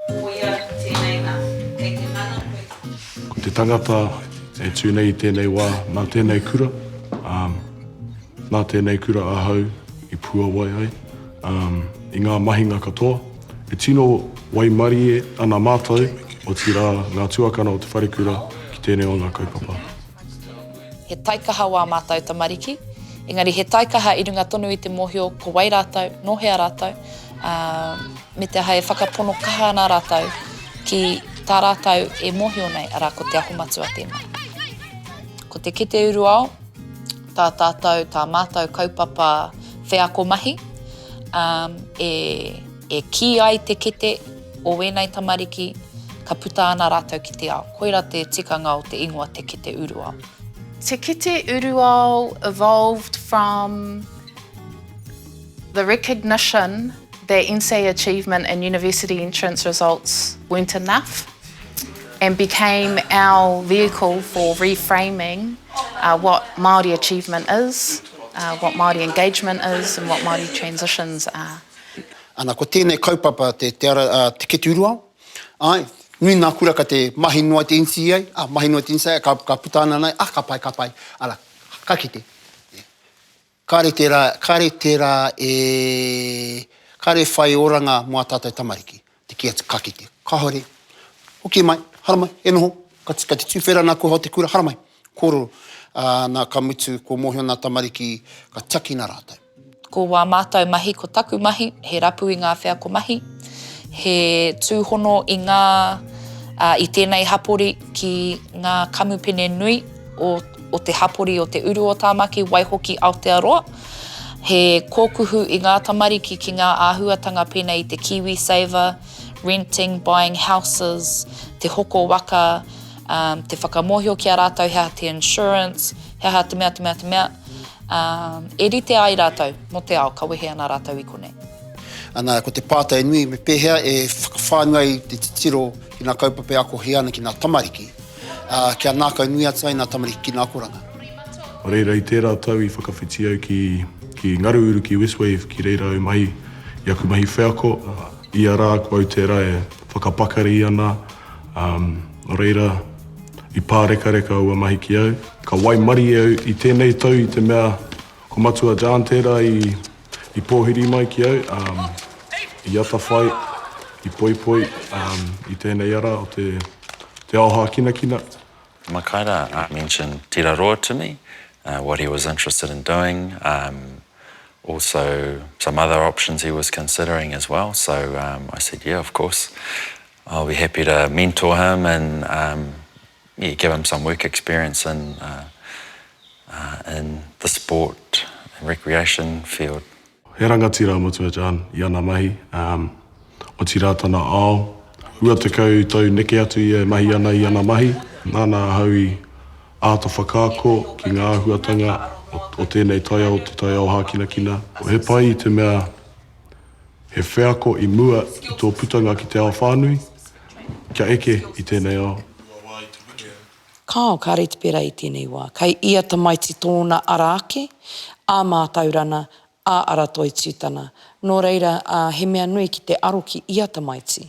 Koia tēnei nā, kei te mana koe ki te kura. Ko te tangata e tū nei i tēnei wā, nā tēnei kura, ā, nā tēnei kura ahau i puawai ai, ā, i ngā mahinga katoa. E tino waimarie ana mātou, otirā ngā tuakana o te wharekura ki tēnei o ngā kaupapa. He taikaha wā mātou tamariki, engari he taikaha i runga tonu i te mōhio ko wai rātou, nō hea rātou, ā. me te aha e whakapono kaha ana rātou ki tā rātou e mōhio nei, arā, ko Te Aho Matua tēnā. Ko te kete uru ao, tā tātou, tā mātou kaupapa wheako mahi, um, e, e kī ai te kete o wēnei tamariki, ka puta ana rātou ki te ao. Koira te tikanga o te ingoa te kete uru ao. Te kete uru ao evolved from The recognition that NCEA achievement in university entrance results weren't enough and became our vehicle for reframing what Māori achievement is, what Māori engagement is and what Māori transitions are. Ana, ko tēnei kaupapa te keturuao. Āe, nui ngā kura ka te mahi noa te NCEA, mahi noa te NCEA, ka puta ana nei, ah, ka pai, ka pai, ara, ka kite. Kāre tērā, kāre tērā e, kāre e whai oranga mō ā tātou tamariki, te kī atu, ka kite, kāore, hoki mai, haramai, e noho, ka, ka te tūwhera nā kua hao te kura, haramai, kōrero, ā, nā, ka mutu, kua mōhio nā tamariki, ka tiakina rātou. Ko wā mātou mahi, ko taku mahi, he rapu i ngā wheako mahi, he tūhono i ngā, ā, i tēnei hapori ki ngā kamupene nui o. o te hapori o Te Uru o Tāmaki, waihoki Aotearoa, he kōkuhu i ngā tamariki ki ngā āhuatanga pēnei i te KiwiSaver, renting, buying houses, te hoko waka, te whakamōhio ki a rātou he aha te insurance, he aha te mea, te mea, te mea, e rite ai rātou mō te ao ka wehe ana rātou i konei. Ana, ko te pātai nui, me pēhea e whakawhānui ai te titiro ki ngā kaupapa e akohia ana ki ngā tamariki? Ā, kia ngākau nui atu ai ngā tamariki ki ngā akoranga. Nō reira, i tērā tau i whakawhiti au ki, ki Ngaruuru, ki Westwave, ki reira au mahi i aku mahi wheako. Ia rā ko au tērā e whakapakari ana, ā, nō reira, i pārekareka aua mahi ki au. Ka waimarie au i tēnei tau i te mea ko Matua John tērā i I pōhiri mai ki au, i atawhai, i poipoi i tēnei ara o te ao hākinakina. Makaira mentioned tira roa to me, what he was interested in doing, also some other options he was considering as well, so I said yeah of course I'll be happy to mentor him and Yeah, give him some work experience in in the sport and recreation field. He rangatira matua John i ana mahi, otirā tana ao. Rua tekau tau neke atu ia e mahi ana i ana mahi, nāna ahau i āta whakaako ki ngā āhuatanga o tēnei taiao, te taiao hākinakina. He pai i te mea He wheako i mua i tō putanga ki te ao whānui, kia eke i tēnei ao. Kāo, kāre te pērā i tēnei wā. Kei ia tamaiti tōna ara ake, ā mātaurana, ā ara toitūtana. Nō reira, he mea nui ki te aro ki ia tamaiti.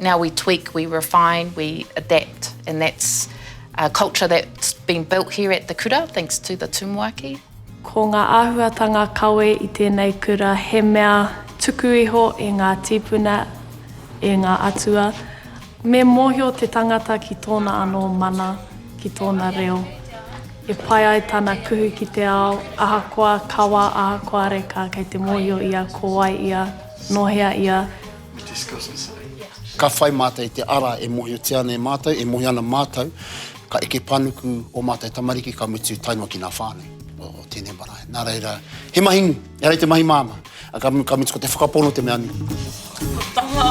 Now we tweak, we refine, we adapt and that's a culture that's been built here at the kura thanks to the tumuaki. Ko ngā āhuatanga kawe i tēnei kura he mea tuku iho e ngā tīpuna, e ngā atua. Me mōhio te tangata ki tōna anō mana, ki tōna reo. E pai ai tana kuhu ki te ao, ahakoa kawa, ahakoa reka kei te mōhio ia ko wai ia, nō hea ia, Ka whai mātou i te ara e mōhiotia ana e mātou, e mohi ana mātou, ka eke panuku ō mātou tamariki ka mutu tae noa ki ngā whānau o tēnei marae. Nā reira, he mahi nui, ehara i te mahi māmā, ā, ka mutu ko te whakapono te mea nui. Tama!